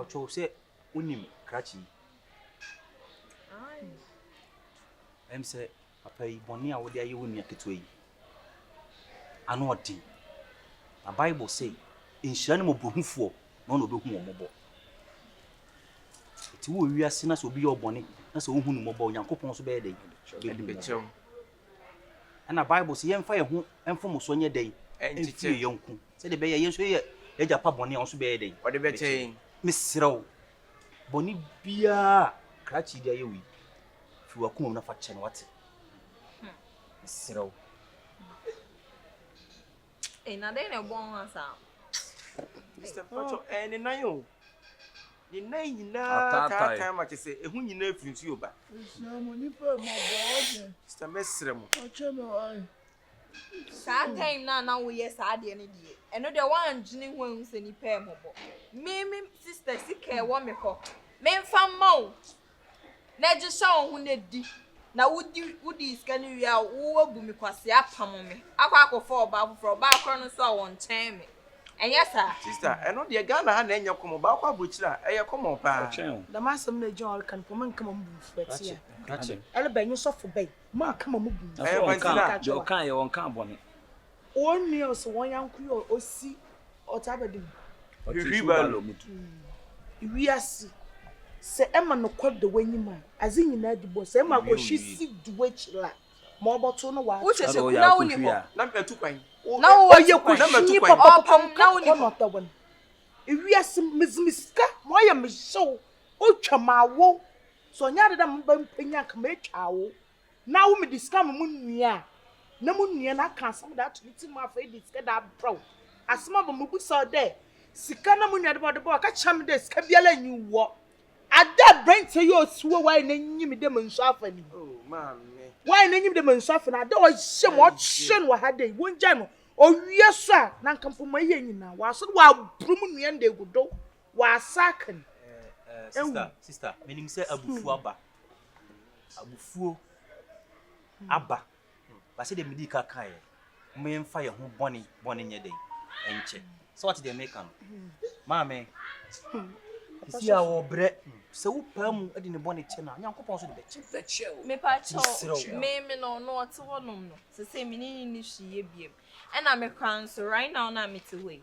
ɔtɔw sɛ wonim krakye yi ɛm sɛ papa yi bɔne a wode ayɛ wo nua ketewa yi ano ɔden na bible sɛ nhyira ne mmɔborɔhufoɔ na ɔna ɔbɛhu wɔ mmɔbɔ ɛti wɔ wiase na sɛ obi yɛ ɔbɔne na sɛ wohu no mmɔbɔ onyankopɔn so bɛyɛ dɛn Ɛnna Bible se, Yɛmfa yɛn ho mfomso nyɛ dɛn? Nkyekyɛ yɛn yɔnko, sɛdeɛ ɛbɛyɛ a yɛn nso yɛyɛ yɛn Agya pa bɔne a, ɔno nso bɛyɛ dɛn? Ɔde bɛkyɛ yɛn. Mesrɛ wo, bɔne biara a krakye yi de ayɛ wo yi, fi w'akoma mu na fa kyɛ no, wate? Mesrɛ wo. Ei na dɛn na ɛbɔ wo ho saa? Mister Pacho, ɛyɛ ne nan o. Ne nan nyinaa taatae ma kyɛ sɛ ɛho nyinaa firi nsuo ba. Mesrɛ mo nipa mmɔbɔ ɔde. Mister mɛsrɛ mo. Ɔkyɛ me ɔe. Saa time na na woyɛ saa adeɛ no deɛ, ɛno deɛ woandwene ho ahu sɛ nipa mmɔbɔ. Me me sister sika ɛwɔ me hɔ, memfa mma wo. na gye sɛ wo ho na di na wodi wodii sika no wie a woabu me kwasea apam me akɔ akɔfa ɔbaa foforɔ ɔbaa korɔ no nso a wɔnkyɛn me ɛnyɛ saa. Sista ɛno deɛ Ghana ha na ɛnyɛ kɔmɔ baako abrokyire a ɛyɛ kɔmɔ paa. Dɛm asɛm no a John reka no poma nka ma mo bu fuɔ ɛte a ɛlebɛ nye sɔfo bɛn mo a ka ma mo bu fuɔ ɛte a nka kyerɛ wɔn. Wo nua ɔsɛ wɔn yanko yi a ɔsi ɔtaa bɛde mu. Hwehwi balo mu tu. Wiase, sɛ ɛma nokwa da w'anyim a, adze nyina di bɔ, sɛ ɛma akɔhwi si du w'ekyir a, ma ɔbɔtow no w'ato. Wokyɛ sɛ kuna wo ni hɔ na matu kwan. Ɔyɛ kɔhwinyi papapapa nka kɔ na ɔda w'ano. Wiase, medze me sika ma ɔyɛ me hyew, otwa m'awow, sɛ ɔnnyɛ adze dɛ mebɛmpɛ nyia a nka metwa awow. Na wo mede sika ma mo nua a, na mo nua no aka asɛm de ato me tsir mu afei de sika de abrɛ wo. Asɛm aba mubisa wo dɛ, Sika na mo nua de ba? Ɔde ba a, ɔka kyerɛ me dɛ sika biara nnyi wɔ. Adɛ aberantsɛ yi osiw a ɔayɛ n'enyim dɛ mansu afa no yi? Ɔayɛ n'enyim dɛ mansu afa no, adɛ ɔyɛ ma ɔkyerɛ no wɔ ha dɛ yi, wongyaa no. Ɔwie so a, na nka mpo ma eyɛ nyina, ɔasan ɔabor mo nua no dɛ egu do, ɔasaake no. Ewu. Abufuo aba. Ba sɛdeɛ medii ka kaeɛ, momfa yɛn ho bɔne bɔne nyɛ dɛn nkyɛ. Sɛ wate deɛ meka no. Maame, sisi a wɔbrɛ sɛ wopaa mu de ne bɔne kyɛ no a, Nyankopɔn nso de bɛkyɛ. Mepakyɛw, me me no no ɔte hɔnom no, sɛ sɛ me ne ne ne hwiyɛ biam. Ɛna mekora nso, right now na mete hɔ yi,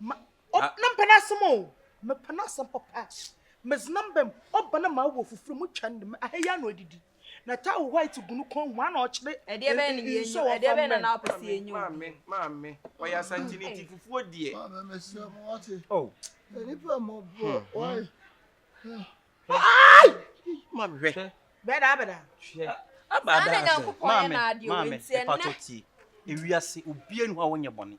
Ma ɔ na mpɛ n'asɛm o. Mepɛ n'asɛm papa. Medze no mbam. Ɔba na ma awɔ fufuw mu twa no dɛm. Aha yi ara na odidi. Na taa wo white gu no kɔn mu. Ana ɔkyerɛ e e nsu a wɔfa mmrɛ no. Maame, maame, ɔyɛ Asankyeni nti fufuo deɛ. Maame mesrɛ mo wate. Oh. Nipa mmɔbɔ, why? Ai! Maame hwɛ. Bɛda bɛda. Hwɛ. Abada asɛ. Maame, maame, mepa to tie. Ewiase, obiara ni hɔ a wɔnyɛ bɔne.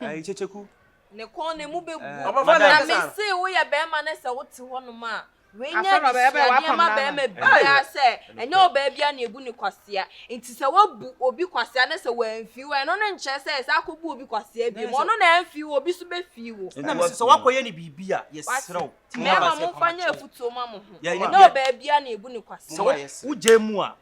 Ayi kyekyeku. Ne kɔn na emu bɛgu. Na me se woyɛ bɛrima na sɛ wote hɔnom a, wei nyɛ adesuadeɛ ma bɛrima biara sɛ ɛnyɛ ɔbaa biara na ebu no kwasea. Nti sɛ woabu obi kwasea na sɛ wamfi wo a, ɛno no nkyerɛ sɛ san kɔbu obi kwasea biom. Ɔno na amfi wo, obi nso bɛfi wo. Nti na me se sɛ woakɔyɛ no biribi a, yɛsrɛ wo. Nti mmarima momfa nyɛ afutuo ma mo ho. Ɛnyɛ ɔbaa biara na ebu no kwasea. Sɛ wogyae mu a,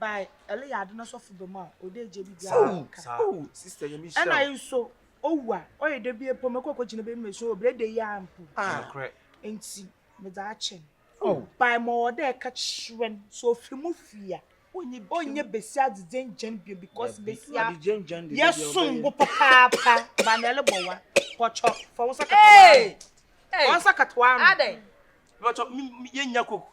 by ɛleyɛ ade no sɔfo bɛ mu a ɔde agye bi bia ɔde nka ɛna yi nso owu a ɔyɛ da bi epo mɛkɔ kɔ gyina bɛ mu so obere de yi a mpo nti mede akyɛ no by ma ɔde ɛka kyerɛ no so ofiri mu firi a ɔnyɛ besi adedze ngyɛn bio because besi a yɛ som bo papaapa ba na ɛle bɔ wa pɔtɔ fɔ wɔn nsa kata wɔn ano wɔn nsa kata wɔn ano. Bàtɔ yɛ nya koko.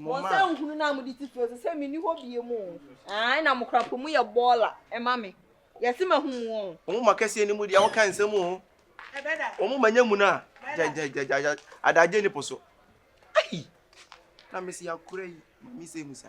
mo nsa nhunu no a mode titiri ɔsɛ sɛ menni hɔ bie mu ae na mokora po mu yɛ bɔɔla ɛma me yɛse mahu mu ɔ ɔmo ma kɛseɛ no mu deɛ woka nsɛm o ɔmo ma nya mu no a gyagyagyagyagya adagye ne po so ai na mese akora yi mami sɛ mu sa